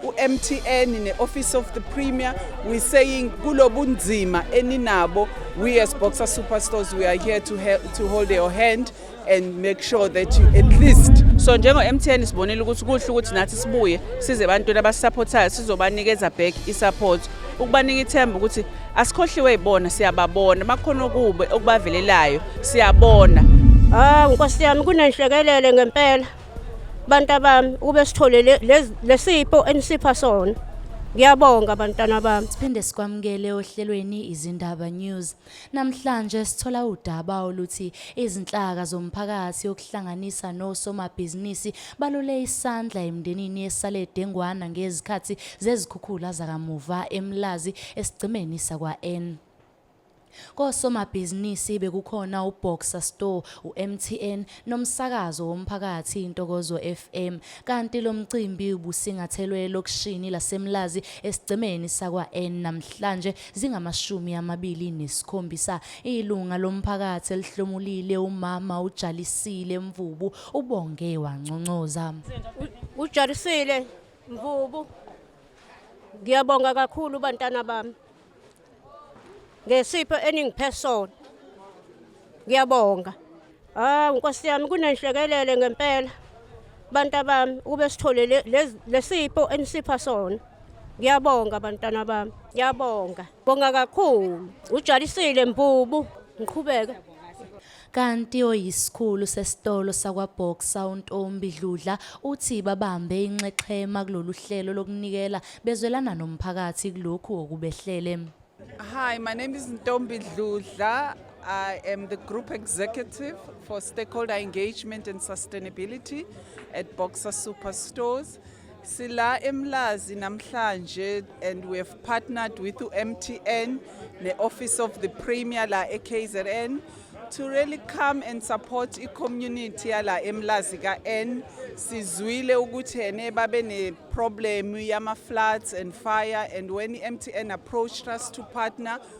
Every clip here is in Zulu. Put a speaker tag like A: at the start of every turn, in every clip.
A: uMTN ne-Office of the Premier we saying kulobunzima eninabo we as Boxer Superstores we are here to help, to hold your hand and make sure that you at least so njengo MTN
B: sibonile ukuthi kuhle ukuthi nathi sibuye size abantu abasupportayo sizobanikeza back i-support ukubanika ithemba ukuthi asikhohliwe ibona siyababona makhona okube okubavelelayo siyabona ah nkosi
C: yami kunenhlekelele ngempela bantu abami ukube sithole lesipho enisipha sona ngiyabonga bantwana bami siphinde sikwamukele
D: ohlelweni izindaba news namhlanje sithola udaba oluthi izinhlaka zomphakathi okuhlanganisa nosomabhizinisi balule isandla emndenini esale dengwana ngezikhathi zezikhukhula zakamuva emlazi esigcemeni sakwa-n Kosomabhizinisi bekukhona uBoxer Store, uMTN nomsakazo womphakathi iNtokozo FM kanti lo mcimbi ubusingathelwe elokishini laseMlazi esigcemeni sakwa-N namhlanje zingamashumi amabili nesikhombisa. Ilunga lomphakathi elihlomulile umama uJalisile Mvubu ubonge wanconcoza. Ujarisile
C: Mvubu, ngiyabonga kakhulu bantana bami. ngesipho eningiphe sona ngiyabonga ah nkosi yami kunenhlekelele ngempela bantu abami ukube sithole lesipho enisipha sona ngiyabonga bantwana bami ngiyabonga bonga kakhulu ujalisile mbubu ngiqhubeke Kanti
D: oyisikhulu sesitolo sakwaBoxer uNtombi Dludla uthi babambe inxexhema kulolu hlelo lokunikela bezwelana nomphakathi kulokhu okubehlele. Hi,
A: my name is Ntombi Dludla. I am the Group Executive for Stakeholder Engagement and Sustainability at Boxer Superstores. Sila eMlazi namhlanje and we have partnered with uMTN ne Office of the Premier la eKZN to really come and support i-community yala emlazi ka-n sizwile ukuthi ene babe ne-problem yama-floods and fire and when i-mtn approached us to partner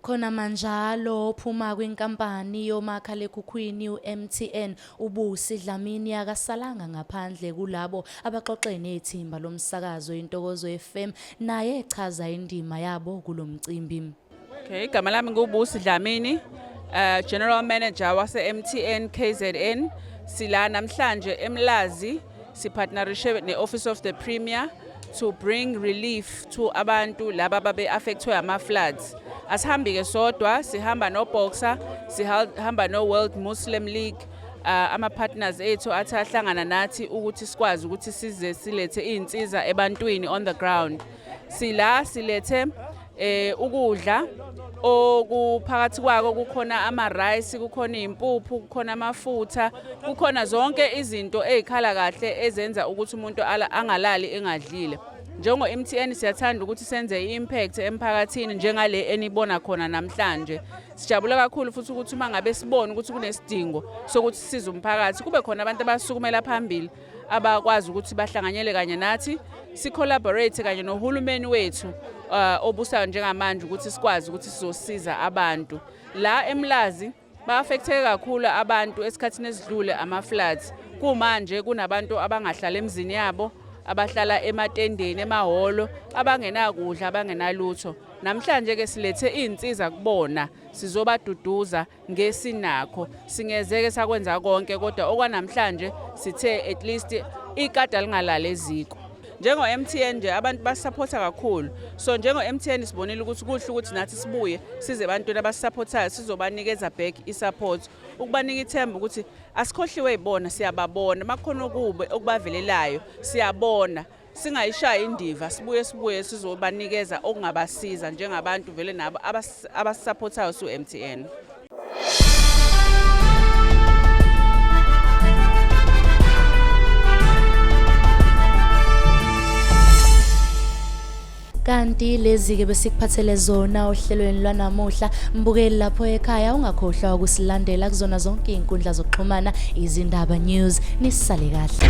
A: Khona manjalo
D: ophuma kwinkampani yomakhalekhukhwini uMTN uBusi Dlamini akasalanga ngaphandle kulabo abaxoxe nethimba lomsakazo iNtokozo FM naye echaza indima yabo kulomcimbi. Okay, igama
B: lami nguBusi Dlamini, uh, General Manager wase-MTN KZN. Sila namhlanje eMlazi Sipartnerishe ne-Office of the Premier to bring relief to abantu laba babe affectwe ama floods asihambi ke sodwa sihamba no boxer sihamba no World Muslim League uh, ama partners ethu athi ahlangana nathi ukuthi sikwazi ukuthi size silethe izinsiza ebantwini on the ground sila silethe eh ukudla okuphakathi kwako kukhona ama rice kukhona impuphu kukhona amafutha kukhona zonke izinto ezikhala kahle ezenza ukuthi umuntu angalali engadlile njengo MTN siyathanda ukuthi senze impact emphakathini njengale enibona khona namhlanje sijabula kakhulu futhi ukuthi uma ngabe sibona ukuthi kunesidingo sokuthi size umphakathi kube khona abantu abasukumela phambili abakwazi ukuthi bahlanganyele kanye nathi sicollaborate kanye nohulumeni wethu uh, obusayo njengamanje ukuthi sikwazi ukuthi sizosiza abantu la emlazi ba-affecteke kakhulu abantu esikhathini esidlule ama-floods kumanje kunabantu abangahlala emzini yabo abahlala ematendeni emahholo abangenakudla abangenalutho namhlanje-ke silethe iy'nsiza kubona sizobaduduza ngesinakho singezeke sakwenza konke kodwa okwanamhlanje sithe at least ikada lingalala eziko njengo-mtn nje abantu basisaphotha kakhulu so njengo-mtn sibonile ukuthi kuhle ukuthi nathi sibuye size ebantwini abasisaphothayo sizobanikeza back i-support ukubanika ithemba ukuthi asikhohliwe yibona siyababona uma kukhona okubi okubavelelayo siyabona singayishaya indiva sibuye sibuye sizobanikeza okungabasiza njengabantu vele nabo abasisaphothayo su-MTN
D: kanti lezi-ke besikuphathele zona ohlelweni lwanamuhla mbukeli lapho ekhaya ungakhohlwa ukusilandela kuzona zonke iy'nkundla zokuxhumana izindaba news nisale kahle